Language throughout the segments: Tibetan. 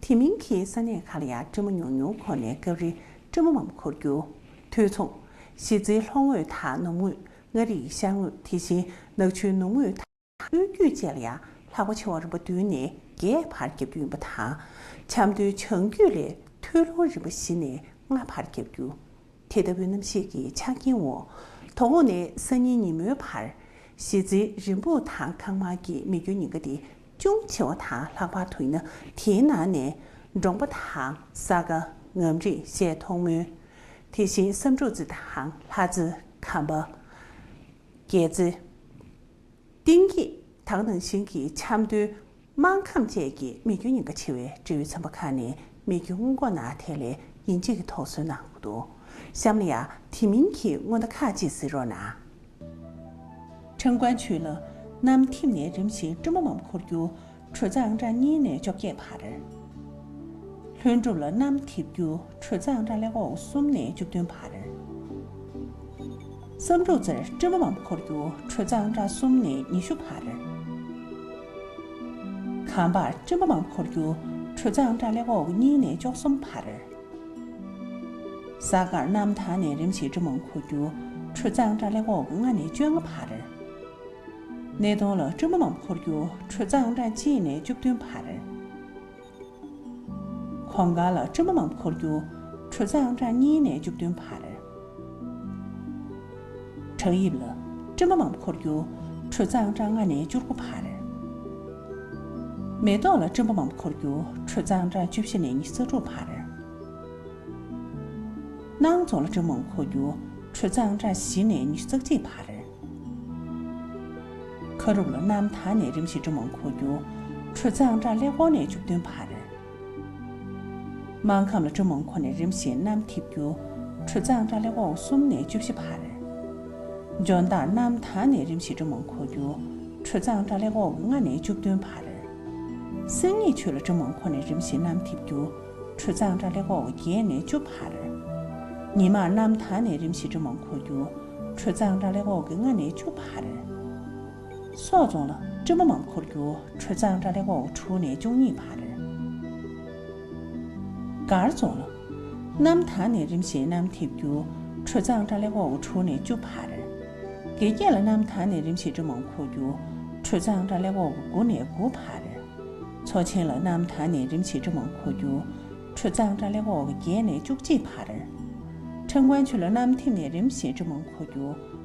དེ་མིན་གྱི་ས་གནས་ཁག་ལ་ཡང་སྤྲོད་མ་མྱོང་མྱོང་ཁོ་ནས་སྐབས་རེ་སྤྲོད་མ་མམ་འཁོར་རྒྱུ། དུས་མཚུངས། གཞིས་རྩེའི་ལྷོ་ངོས་དང་ནུབ་ངོས། མངའ་རིས་ཤར་ངོས་དེ་བཞིན་ནག་ཆུའི་ནུབ་ངོས་དང་དབུས་རྒྱུད་བཅས་ལ་ཡང་ལྷག་པ་ཆེ་བ་རིམ་པ་བདུན་ནས་བརྒྱད་བར་རྒྱག་རྒྱུ་ཡིན་པ་དང། ཆབ་མདོའི་བྱང་རྒྱུད་ལས་ཐུའུ་ལུང་རིམ་པ་བཞི་ནས་ལྔ་བར་རྒྱག་རྒྱུ། དེ་ལྟ་བུའི་རྣམ་ཤེས་ཀྱི་ཆ་རྐྱེན་འོག་དོ་དགོང་ནས་སང་ཉིན་ཉིན་མོའི་བར། གཞིས་རྩེའི་རི་འབུར་ཐང་ཁང་མ་གི་མི་རྒྱུ་ཉིན་འགའ་དེ་ཅུང་ཆེ་བ་དང་ལྷག་པར་དུ་ཡིན་ན་དེའི་ནང་ནས་འབྲོང་པ་དང་ས་ག་ངམ་རིགས་བཤད་མཐོང་མོད། དེ་བཞིན་བསམ་འབྲུག་རྩི་དང་ལྷ་རྩི། ཁམས་པ། རྒྱལ་རྩི། གཏིང་སྐྱེས་དག་ནང་བཞིན་གྱི་ཆབ་མདོའི་དམངས་ཁམས་བཅས་ཀྱི་རྨས་སྐྱོན་ཉེན་ཁ་ཆེ་བའི་འབྲེལ་ཡོད་ཚན་པ་ཁག་ནས་རྨས་སྐྱོན་སྔོན་འགོག་ནང་ཐད་ལས་ཡིན་གཅིག་གི་ཐོག་སོན་གནང་འདུག་གཤམ་ལ་ཡང་དེ་མིན་གྱི་སྔོན་བརྡ་ཁག་ཅིག་གཟིགས་རོགས་གནང། ཁྲེང་ཀོན་ཆུས་ལོ་གནམ་ཐིམ་ནས་རིམ་བཞིན་ཀྲུང་མ་འམ་འཁོར་རྒྱུག་གྲོས་ཚང་ར་གཉིས་ནས་བཅོ་བརྒྱད་བར། ལྷུན་གྲུབ་ལོ་གནམ་ཐིབ་རྒྱུག་གྲོས་ཚང་ར་ལས་འོག་གསུམ་ནས་བཅུ་བདུན་བར། བསམ་འགྲུབ་རྩེར་ཀྲུང་མ་འམ་འཁོར་རྒྱུག་གྲོས་ཚང་ར་གསུམ་ནས་ཉི་ཤུ་བར། གངས་འཕགས་ཀྲུང་མ་འམ་འཁོར་རྒྱུག་གྲོས་ཚང་ར་ལས་འོག་གཉིས་ནས་བཅོ་གསུམ་བར། གཟའ་སྐར་གནམ་ཐང་ནས་རིམ་བཞིན་འབྲི་མོང་ཁུ་རྒྱུ་ཁྲུ་གཙང་སྦྲ་ལེ་འོག་ལྔ་ནས་བཅོ་ལྔ་བར། སྣེ་གདོང་ལ་སྤྲུལ་མ་མམ་ཁུ་རྒྱུ་ཁྲུ་གཙང་སྦྲ་གཅིག་ནས་བཅུ་བདུན་བར། གོང་དཀར་ལ་སྤྲུལ་མ་མམ་ཁུ་རྒྱུ་ཁྲུ་གཙང་སྦྲ་གཉིས་ནས་བཅུ་བདུན་བར། བྲག་ཡིབ་ལ། སྤྲིན་པ་མམ་འཁོར་རྒྱུ། དྲོད་གཙང་སྦྲ་ལྔ་ནས་བཅུ་དགུ་བར། མེ་ཏོག་ལ། སྤྲིན་པ་མམ་འཁོར་རྒྱུ། དྲོད་གཙང་སྦྲ་བཅུ་བཞི་ནས་ཉི་ཚེ་དྲུག་བར། སྣང་རྫོང་ལ། སྤྲིན་པ་མམ་འཁོར་རྒྱུ། དྲོད་གཙང་སྦྲ་བཞི་ནས་ཉི་ཤུ་རྩ་གཅིག་བར། ཁ་རུབ་ལ། གནམ་ཐང་ནས་རིམ་བཞིན་སྤྲིན་པ་མམ་འཁོར་རྒྱུ། དྲོད་གཙང་སྦྲ་ལྷེ་ཀོང་ནས་བཅུ་བདུན་བར། སྨྲང་ཁམས་ལ་སྤྲོ་མང་ཁོ་ནས་རིམ་བཞིན་གནམ་འཐིབ་རྒྱུ། ཁྲུ་གཙང་སྦྲ་ལེ་འོག་གསུམ་ནས་བཅུ་བཞི་བར། འཇོ་མདངས་གནམ་ཐང་ནས་རིམ་བཞིན་སྤྲོ་མང་ཁོ་རྒྱུ། ཁྲུ་གཙང་སྦྲ་ལེ་འོག་ལྔ་ནས་བཅུ་བདུན་བར། སེང་ངེ་ཆུ་ལ་སྤྲོ་མང་ཁོ་ནས་རིམ་བཞིན་གནམ་འཐིབ་རྒྱུ། ཁྲུ་གཙང་སྦྲ་ལེ་འོག་བརྒྱད་ནས་བཅུ་བར། ཉི་མ་གནམ་ཐང་ནས་རིམ་བཞིན་སྤྲོ་མང་ཁོ་རྒྱུ། ཁྲུ་གཙང་སྦྲ་ལེ་འོག་གི་ལྔ་ནས་བཅུ་བར། སོག་རྫོང་ལ་སྤྲུལ་སྐུ་འམ་འཁོར་རྒྱུག་ཁྲོད་གཙང་སྦྲ་ལེགས་པོ་དྲུག་ནས་བཅུ་གཉིས་བར། མགར་རྫོང་ལ། གནམ་ཐང་ནས་རིམ་བཞིན་གནམ་འཐིབ་རྒྱུག་ཁྲོད་གཙང་སྦྲ་ལེགས་པོ་དྲུག་ནས་བཅུ་བར། དགེ་རྒྱས་ལ་གནམ་ཐང་ནས་རིམ་བཞིན་སྤྲུལ་འམ་འཁོར་རྒྱུག་ཁྲོད་གཙང་སྦྲ་ལེགས་པོ་དགུ་ནས་དགུ་བར། མཚོ་ཆེན་ལ་གནམ་ཐང་ནས་རིམ་བཞིན་སྤྲུལ་འམ་འཁོར་རྒྱུག་ཁྲོད་གཙང་སྦྲ་ལེགས་པོ་བརྒྱད་ནས་བཅུ་གཅིག་བར། ཁྲེང་ཀོན་ཆུས་ལ་གནམ་འཐིབ་ནས་རིམ་བཞིན་སྤྲུལ་འམ་འཁོར་རྒྱུག་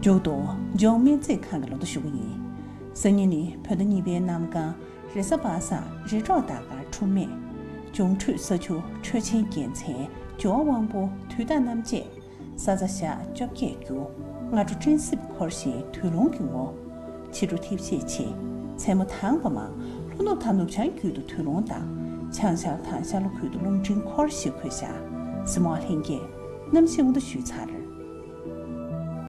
མཇུག་ཏུ་ལྗོངས་སྨན་རྩིས་ཁང་གི་ལོ་ཏོ་ཞུ་གི་ཡིན། སང་ཉིན་ནི་བོད་ཟླ་གཉིས་པའི་གནམ་གང་རེས་གཟའ་པ་སངས་རེས་འཕྲོག་བདག་དཀར་འཕྲོ་མེད། འབྱུང་འཕྲོད་ས་ཆུ་འཕྲོད་ཆེན་རྒྱལ་མཚན་ཇོ་བོ་དབང་པོ་དུས་བདག་རྣམ་བཅས། སཱཙྪ་ཞག་བཅོ་བརྒྱད་རྒྱུ། སྔ་དྲོ་སྤྲིན་གསེབ་འཁོར་ཞིང་དུས་རུང་གི་ངོ། ཕྱི་དྲོ་ཐིབས་ཤས་ཆེ། མཚན་མོ་དྭངས་པ་མང། ལྷོ་ནུབ་དང་ནུབ་བྱང་རྒྱུད་དུ་དུས་རུང་དང། བྱང་ཤར་དང་ཤར་ལྷོ་ཁུལ་དུ་རླུང་འཕྲིན་འཁོར་ཞི་འཁོད་ཤ། སི་མོ་ཨ་ལྷན་རྒྱས། གནམ་གཤིས་དབུ་མདའ་བཞུད་ཚར།